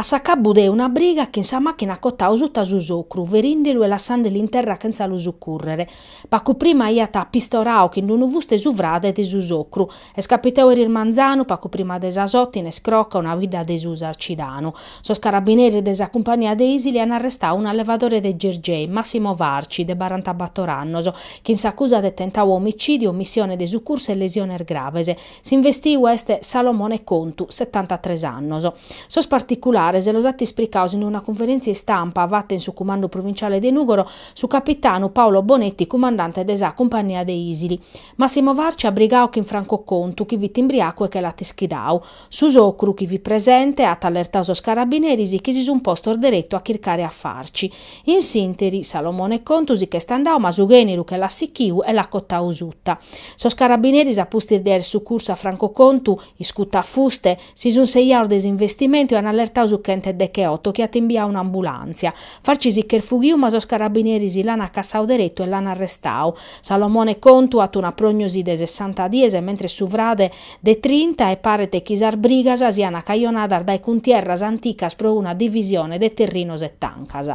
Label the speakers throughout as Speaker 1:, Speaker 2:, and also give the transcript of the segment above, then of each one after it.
Speaker 1: A s'acabbu de una briga chin sa machina at cotau sutta su socru, ferindelu e lassandelu in terra chentza lu succurrere. Pacu prima iat pistorau chin d'unu fuste su frade de su socru. Est capitau eris manzanu, pacu prima de sas oto, in Escrocca, una bidda de su Sarcidanu. Sos carabineris de sa cumpania de Isili an arrestau un allevadore de Gergei, Massimo Farci, de barantabator annos, chin s'acusa de tentau omicìdiu, omissione de succursu e lesiones graves. S'investiu est Salomone Contu, setantatres annos. Sos particulares los at ispricaos in una cunferèntzia istampa fata in su cumandu provinciale de Nùgoro su capitanu Paolo Bonetti cumandante de sa cumpania de Isili. Massimo Farci at brigau chin Franco Contu chi fit imbriacu e che l'at ischidau. Su socru chi fit presente at allertau sos carabineris chi si sun postos deretu a chircare a Farci. In s'interi, Salomone Contu si ch'est andau ma su ghèneru che l'at sichiu e l'at cotau suta. Sos carabineris a pustis de àer sucursu a Franco Contu, iscutu a fuste, si sun seiaos de s'investimentu e an allertau su chentu e decheoto chi at imbiau un'ambulàntzia. Farci si ch'est fughiu ma sos carabineris l'an acassau deretu e l'an arrestau. Salomone Contu at una prognosi de sessanta dies mentres su frade, de trinta e paret chi sas brigas siana cajonadas dae cuntierras anticas pro una divisione de terrinos e tancas.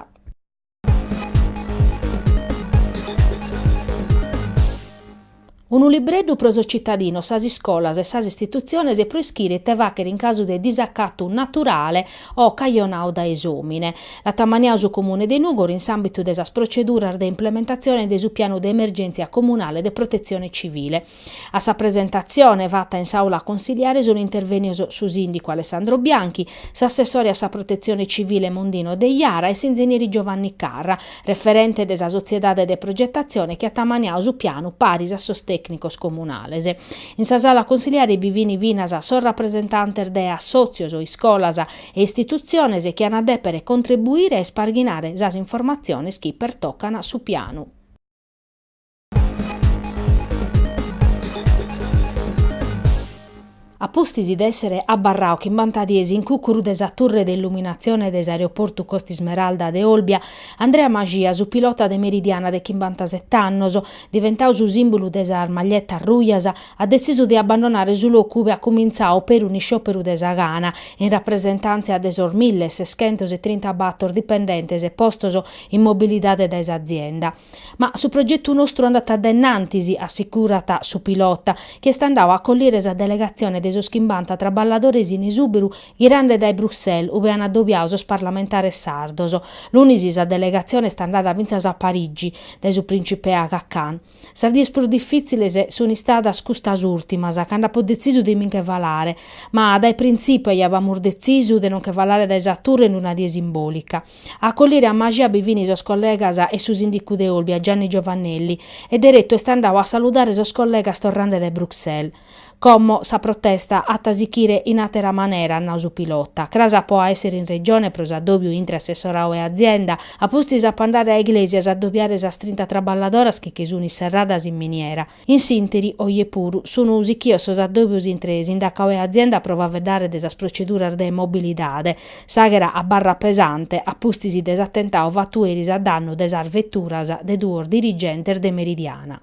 Speaker 1: Unu libreddu pro sos citadinos, sas iscolas e sas istitutziones pro ischire ite fàchere in casu de disacatu naturale o cajonau dae s'omine. L'at ammaniau su Comune de Nùgoro in s'ambitu de sas proceduras de implementatzione de su Pianu de Emergèntzia Comunale de Protetzione Civile. A sa presentatzione fata in s'Aula Consiliare sunt intervènios su sìndicu Alessandro Bianchi, s'assessore a sa Protetzione Civile Mondino Deiara e s'inzenieri Giovanni Carra, referente de sa sotziedade de progetatzione chi at ammaniau su pianu paris a sos tècnicos comunales. In sa Sala Consiliare bi fini finas sos rapresentantes de assòtzios, iscolas e istitutziones chi an a dèpere contribuire a isparghinare sas informatziones chi pertocan su pianu. A pustis de èssere abarrau chimbanta dies in cùcuru de sa turre de illuminatzione de s'aeroportu Costa Ismeralda de Olbia, Andrea Maxia, su pilota de Meridiana de chimbantasete annos, diventadu su sìmbulu de sas maglietas rujas, at detzisu de abbandonare su locu ue iat cumintzadu peri unu isciòperu de sa gana, in rapresentàntzia de sos mille e seschentos e trinta bator dipendentes postos in mobilidade dae s'azienda. Ma su progetu nostru andat de innantis, assigurat su pilota, chi est andadu a collire sa delegatzione de sos chimbanta traballadores in esùberu ghirande dae Bruxelles, ue an adobiadu sos parlamentares sardos. Lunis sa delegatzione est andada fintzas a Parigi, dae su prìncipe Aga Khan. Sas dies prus difìtziles sunt istadas custas ùrtimas, cando apo detzisu de mi nche falare. Ma dae printzipiu aiàbamus detzisu de no nche falare dae sa Turre in una die simbòlica. A acollire a Maxia bi fini sos collegas e su sindicu de Olbia, Gianni Giovannelli, e deretu est andadu a saludare sos collegas torrande de Bruxelles. Como sa protesta at a sichire in àtera manera, at nau su pilota, cras apo a èssere in Regione pro s'adòbiu intre assessoradu e azienda, a pustis apo a andare a Iglesias a adobiare sas trinta traballadoras chi sunt inserradas in miniera. In s'interi, oje puru, sun sichios sos addòbios intre Sindacau e Azienda pro faveddare de sas proceduras de mobilidade. S'àghera abarrat pesante, a pustis de s'atentadu fatu eris a dannu de sas veturas de duos dirigentes de Meridiana.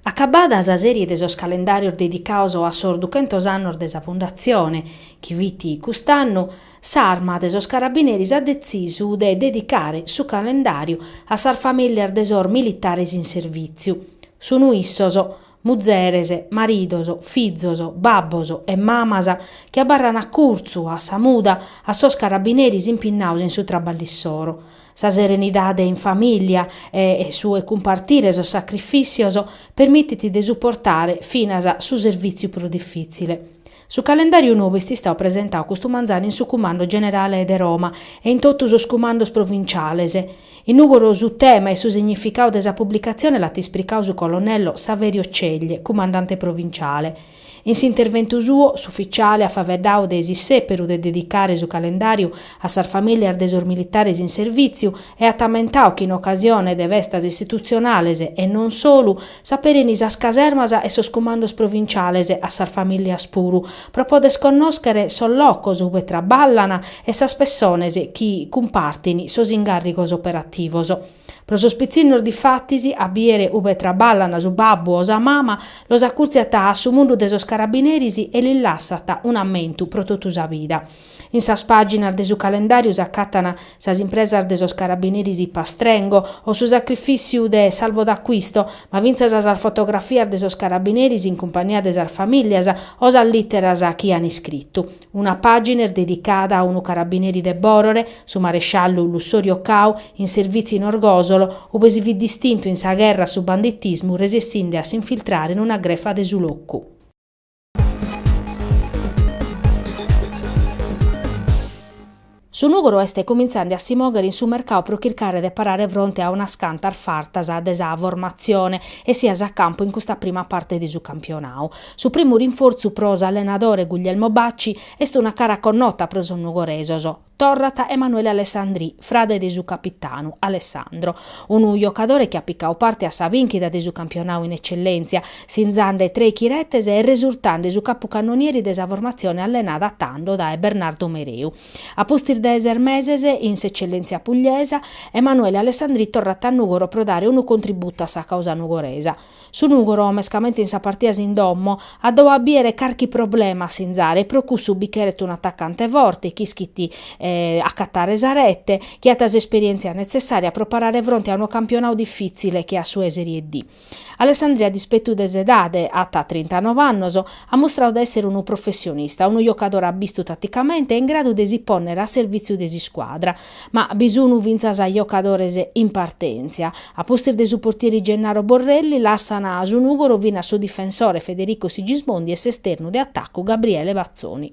Speaker 1: Acabada sa sèrie de sos calendàrios dedicados a sos duchentos annos de sa fundatzione, chi fit cust'annu, s'Arma de sos Carabineris at detzisu de dedicare su calendàriu a sas famìlias de sos militares in servìtziu. Sun issos, muzeres, maridos, fizos, babbos e mamas chi abarran acurtzu a sa muda a sos carabineris impinnados in su traballu issoro. Sa serenidade in famìlia e su 'e cumpartire sos sacrifìtzios permitit de suportare finas su servìtziu prus difìtzile. Su calendàriu nou est istadu presentadu custu manzanu in su Cumando Generale de Roma e in totu sos Cumandos Provinciales. In Nùgoro su tema e su significadu de sa publicatzione l'at ispricadu su colonnello Saverio Ceglie, Cumandante Provinciale. In s'interventu suo, s'ufficiale at faveddau de s'issèperu de dedicare su calendàriu a sas famìlias de sos militares in servìtziu e at ammentau chi in ocasione de festas istitutzionales, e non solu, s'aperen sas casermas e sos cumandos provinciales a sas famìlias puru, pro poder connòschere sos locos ue traballan e sas pessones chi cumpartint sos incàrricos operativos. Pro sos pitzinnos difatis, a bìere ube traballan su babbu o sa mama, los acùrtziat a su mundu de sos carabineris e lis lassat un'ammentu pro totu sa vida. In sas pàginas de su calendàriu s'acàtana sas impresas de sos carabineris Pastrengo o su sacrifìtziu de Salvo D'Acquisto, ma fintzas sas fotografias de sos carabineris in cumpagnia de sas famìlias o sas lìteras chi an iscritu. Una pàgina est dedicada a unu carabineri de Bòrore, su maresciallu Lussorio Cau, in servìtziu in Orgòsolo, ube si fit distintu in sa gherra a su banditismu resessinde a s'infiltrare in una grefa de su locu. Su nùgoro est cuminzande a si mòghere in su mercau pro chircare de parare fronte a unas cantas fartas de sa formatzione essias a campu in custa prima parte de su campionau. Su primu rinfortzu pro s'allenadore Guglielmo Bacci est una cara connota pro sos nugoresos, torrat Emanuele Alessandri, frade de su capitanu, Alessandro. Unu jocadore chi at picau parte a sa bìnchida de su campionau in Eccellèntzia sinzande trèichi retes e resurtande su capucannonieri de sa formatzione allenada tando dae Bernardo Mereu. A pustis de ses meses in s'Eccellenzia pugliesa, Emanuele Alessandri torrat a Nùgoro pro dare unu contributu a sa causa nugoresa. Su Nùgoro, mescamente in sas partias in domo, at dau a bìere carchi problema a sinzare e pro cussu bi cheret un'atacante forte chi ischit acatare sa rete, chi at s'esperièntzia netzessària pro parare fronte a unu campionau difìtzile che at su 'e Serie D. Alessandri a dispetu de s'edade, at trintanove annos, at mustrau de èssere unu professionista, unu jocadore abbistu taticamente e in gradu de si pònnere a servìtziu de s'iscuadra. Ma bi sun fintzas jocadores in partèntzia. A pustis de su portieri Gennaro Borrelli, lassan su Nùgoro finas su difensore Federico Sigismondi e s'esternu de atacu Gabriele Bazzoni.